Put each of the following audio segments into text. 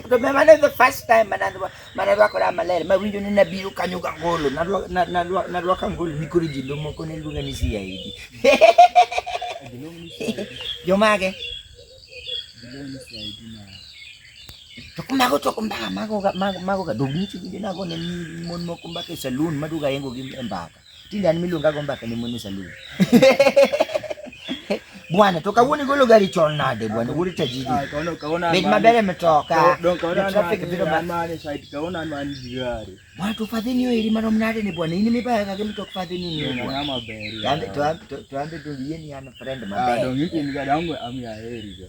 to me mano the first time manadwa manadwa koda maler ma winjo ni nabiro kanyo ga ngolo nadwa nadwa nadwa ka ngolo ni koro jindo moko ne luonga ni sia idi jomage to kumago to kumbaka mago mago mago ga dogni chigo na go ne mon moko mbaka e saloon maduga yengo gi mbaka Tinde an miluonga go mbaka ne mon e salun. Bwana to kawuono igolo gari chon nade bwana wuod tajiri. Ah, Bed maber e mtoka. Traffic biro ma. Bwana to fadhini yo iri marom nade ni bwana in mibaya ka gimto fadhini ni. Ng'ama ber. Tambe to to ambe to yie ni an friend ah, maber. Ah, dong ikin ga dong ami aheri ga.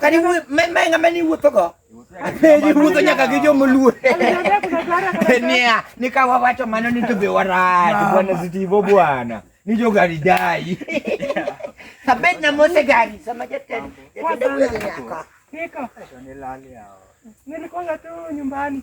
Kani me me ngama ni wuotho go. Apeji wuotho nyaka gi joma luo. Nia, ni ka wawacho mano ni to be warad bwana Zitivo bwana. Ni jo gari dai. Sabet na mose gari sama jatend. Niko. Nilikuwa tu nyumbani.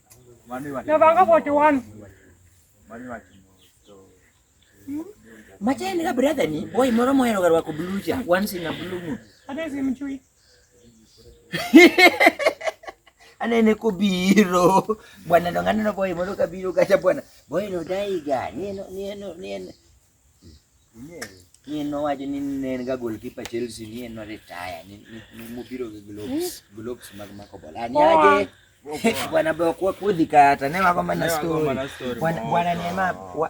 Navanga 41. Machani ka brother ni boy moro mohero garwa ko blue cha once in a blue moon. Ade simchui. Anene ko biro. Bwana ndo ngana no boy moro ka biro kacha bwana. Boy no daiga. Ni no ni no ni ni en nowacho ni ne en ga goalkeeper Chelsea ni en no retire ni mobiro gi globes hmm? globes mag mako bola ani aje bwana bwana kwa kudhi kata ne wako mana story bwana bwana ni ma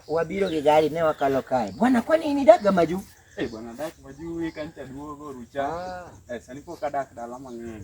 wabiro gi gari ne wakalo kae bwana kwa nini daga maju eh bwana dak maju weekend taduogo rucha ah. eh sani pok adak dala mang'eny